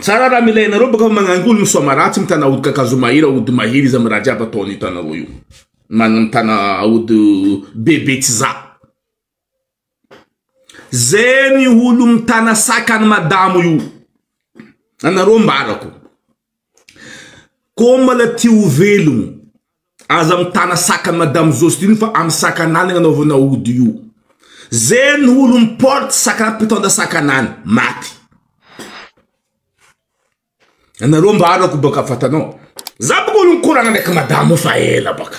Tsara raha milay anareo baka fa magnangoly ny soamaratsy mitana aody kakazo mahery aody mahery iza miraha jiaby atao anio tanareo io manana mitana aody bebe tsy za ze ny olo mitana sac any madamo io anareo ambarako Komala tia ho velogno. Aza mitana sakany madame Jocelyne fa am sakanany agnanaovana ody io. Zay ny olo miporte sakana mpitondra sakanany maty. Anareo mba arako baka fatanao. Za baka olo nikoragna ndraiky madamo io fa ela baka.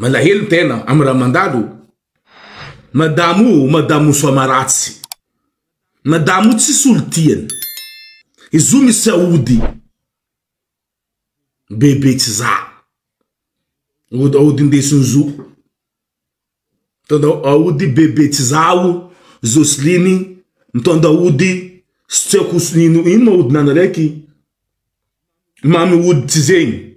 Malahelo tena am raha mandalo. Madamo o madamo soamaratsy. Madamo o tsisy olo tiany. Izo misy aody bebe tsy za. Aody ndesiny zo. Mitondra aody bebe tsy za o Joseline mitondra aody tsy haiko ino ma aodinao raiky. Mamy ody tsy zegny.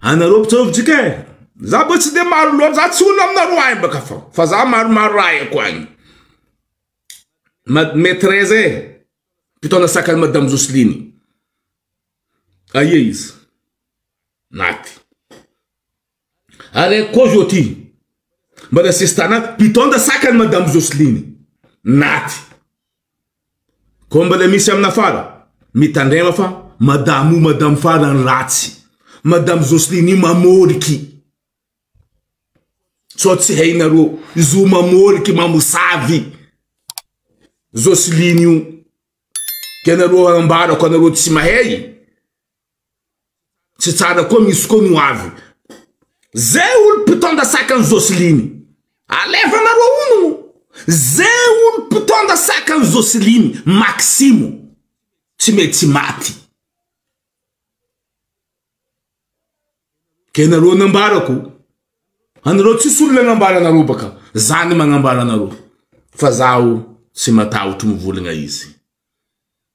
Anareo mpitsaovitsika e! Za mba tsy dia maro loatra, za tsy olona aminareo ahy mbaka fa fa za maromaro raha haiko agny. Madame Therese e, mpitaona sac an'i Madame Jocelyne. Aia izy? Maty. Araiky koa zao ty, mbana sesitana, mpitaonda sac an'i Madame Jocelyne. Naty. Koa mbola misy amina fara. Mitandrema fa madame io madame farany ratsy. Madame Jocelyne io mamôriky. Sao tsy hainareo. Izy io mamôriky, mamosavy. Jocelyne io. Ka nareo ambarako anareo tsy mahay. Tsy tsara koa misy koa ny ho avy. Zay olo mpitondra sakan'i Joceline. Alefanareo hono o! Zay olo mpitondra sakan'i Joceline Maximo. Tsy mety tsy maty. Ke nareo nambarako. Anareo tsisy olona nambara anareo baka. Za ny magnambara anareo. Fa zaho tsy matahotro mivoligna izy.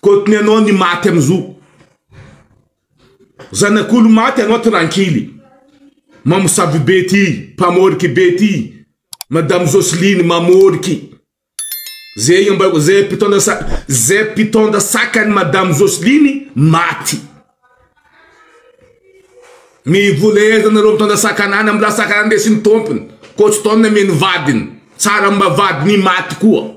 Kotony anao ny maty am zo. Zanak'olo maty anao trankily. Mamosavy be ty, mpamoriky be ty. Madame Jocelyne mamoriky. Zay mba zay mpitondra sa zay mpitondra sakany Madame Jocelyne maty. Ny vola ezanareo mitondra sakanana mbola sakanana ndesin'ny tompony. Coach Tom amy ny vadiny. Tsara mba vadiny maty koa.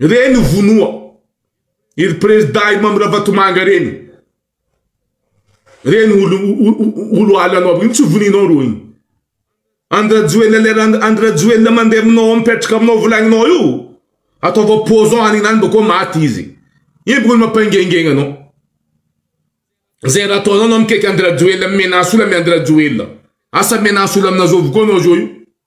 Reny ho vonoa iry prezda iry Mamy Ravatomanga reny. Reny olo ala anao iny tsy voninao ro iny. Andrajoelina lera andrajoelina mandeha aminao mipetraka aminao volagninao io. Ataova poison any nany bakeo maty izy. Iny bakeo mampangengegna anao. Zay raha ataonao anao mikaiky andrajoelina menace olona amin'ny andrajoelina. Asa menace olona aminao zao avokoa anao zao io.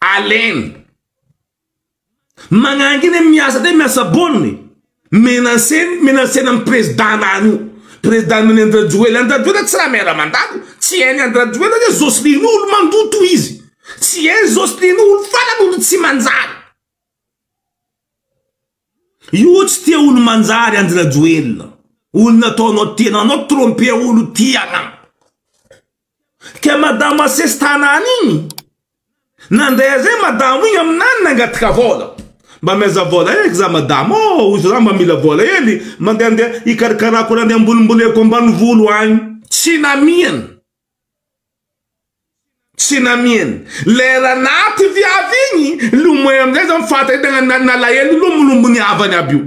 Alain. Magnangina e miasa de miasa bonne e. Menacena menacena an'i président anany io. Président nony an-dRajoelina, an-dRajoelina tsy raha maire mandalo, tsy hainy an-dRajoelina hoe Jocelyne olo mandoa toa izy. Tsy hainy Jocelyne olo farany olo tsy manjary. Io tsy tia olo manjary an-dRajoelina. Olo nataonao tenanao tromper olo tiana. Ka madama asesy tanany igny nandray aze madamo igny aminany nangataka vola mba meza vola eky za madamo ô ozy za mba mila vola hely mandehandeha hikarakarako raha andeha ambolimboleko ambanivolo agny tsy namiany tsy namiany lera naty viavy igny lomay amizay za mifahatahita na nalahelo lomolombony havany aby io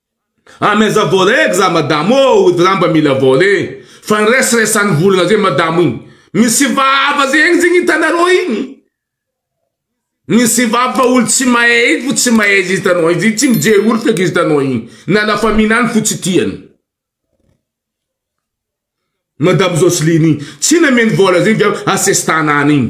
Ah mais aza voaray eky za madamo ô ody ra mba mila voaray e fa ny resaresan'ny volana zay madamo igny misy vava zay igny zegny hitanareo igny misy vava fa olo tsy mahay igny fo tsy mahay izy hitanao izy tsy mijery olo feky izy hitanao igny na la famille any fo tsy tiany madamo Joseline igny tsy nameno vola zegny fa asesitana any igny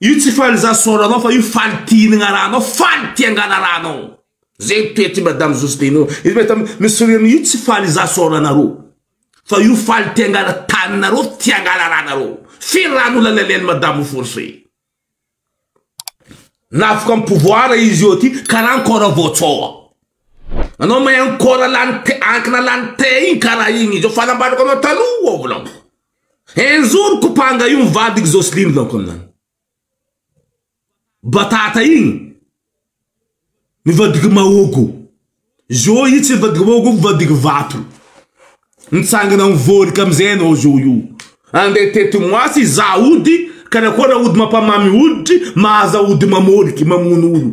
Io tsy faly za sôra anao fa io faly tia hinagna raha anao faly tia angala raha anao zegny toe ty madame Josdeno izy mahita misy sourire io tsy faly za sôra anarô fa io faly tia angala taninarô tia angala raha narô firy raha nolalain'el madame force navoka am pouvoir izy io ty karaha ankôra vao tsôha anao mahay ankôra lany ankina lany te igny karaha igny izy io fa nambarako anao taloha volagno. Enjoro kopanga io ny vadiko Jocelyne laoka aminany batata igny ny vadiko mahogo zo io tsy vadiko mahogo io vadiko vato mitsangana amin'ny vorika amizay anao zo io andeha tety moasy hizaha ody karakôry aody mampamamy hoditry mahaza ody mamôliky mamono olo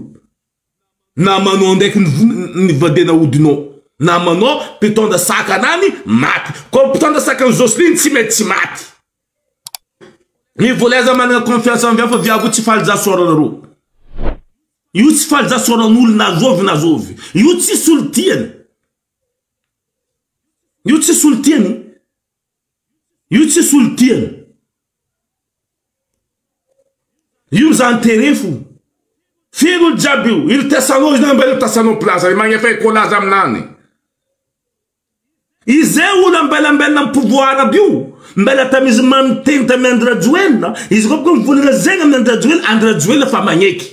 na manao ndraiky ny vadena hodinao na manao mpitondra sakanany maty ko mpitondra sakany Jocelyn tsy mety tsy maty ny vola aza manana confiance amin'ny hafa viavy tsy faly za sora nareo io tsy faly za sora n'olo na zovy na zovy io tsy solo tiany io tsy solo tiany Io tsy solon-tiana. Io zany tere fo. Feno olo jiaby io. Ilo tasanao izy namba ilo tasanao plaza. Magnefay cola za aminany. Izay olo ambelambelona amin'ny pouvoir aby io. Mbela tamizy mamy miteny tamin'ny Andry Rajoelina. Izy koa boka mivolagna zegny amin'ny Andry Rajoelina. Andry Rajoelina fa magneky.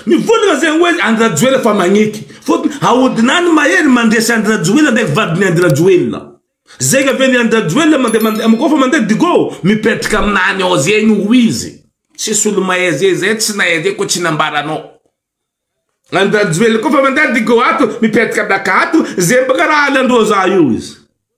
Mivondrona zay hoe Andry Rajoelina fa magneky fotony ahodina any mahery mandresy Andry Rajoelina ndraiky vadiny Andry Rajoelina zay ka vely Andry Rajoelina mande mande ko fa mande digo mipetraka aminany ao zegny ho izy tsisy olo mahay ze zay tsy nahay ze ko tsy nambaranao Andry Rajoelina ko fa mande digo ato mipetraka daka ato ze mbaka raha alandroa za io izy.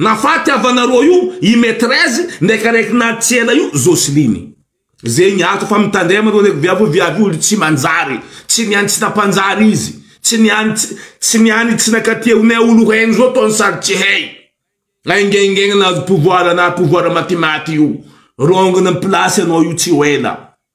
Nafaty havana roa io i Maitrese ndraiky araiky natitsy ela io Jocelyne. Zegny ato fa mitandrema reo reko viavy hoe viavy olo tsy manjary, tsy niany tsy nampanjary izy, tsy niany tsy tsy niany tsy nakatia ho ne olo heno zao tony sady tsy hey. Aingengegna nahazo pouvoir na pouvoir matimaty io. Rongony ny place anao io tsy ho ela.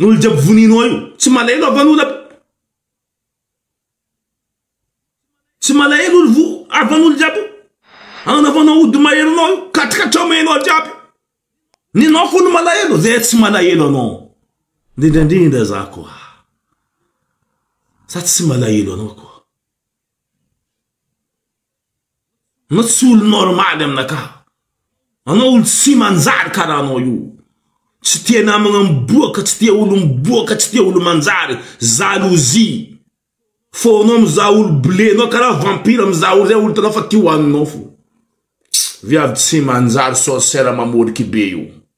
Olo jiaby voninao io. Tsy malahelo havanona. Tsy malahelo olo vo havanolo jiaby io. Anaovanao ody maherinao io. Katrikatramainao jiaby. Ny anao fony malahelo zay tsy malahelo anao. Indrindraindrindra za koa. Za tsy malahelo anao koa. Anao tsy olo normaly aminakahy. Anao olo tsy manjary karaha anao io. Tsy tia namagna miboaka, tsy tia olo miboaka, tsy tia olo manjary. Jalousie. Fonao mizaha olo bleu, anao karaha vampire mizaha olo zay olo hitanao fa tia hoaninao fo. Viavy tsy manjary sorcière mamôriky be io.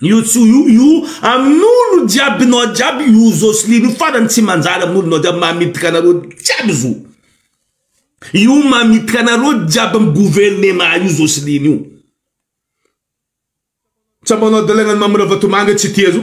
Io tsy io io amin'olo jiaby nao jiaby io Josline io farany tsy manjary amin'olo nao jiaby mamitaka anareo jiaby zo io mamitaka anareo jiaby am gouvernement io Josline io tsapanao dalagna ny Mamy Ravatomanga tsy tia zo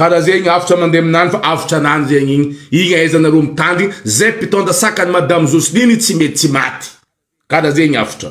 Kara zegny avotra mande aminany fa avotra anany zegny igny igny aiza nareo mitandry zay mpitondra sakany madame Josline tsy mety tsy maty kara zegny avotra.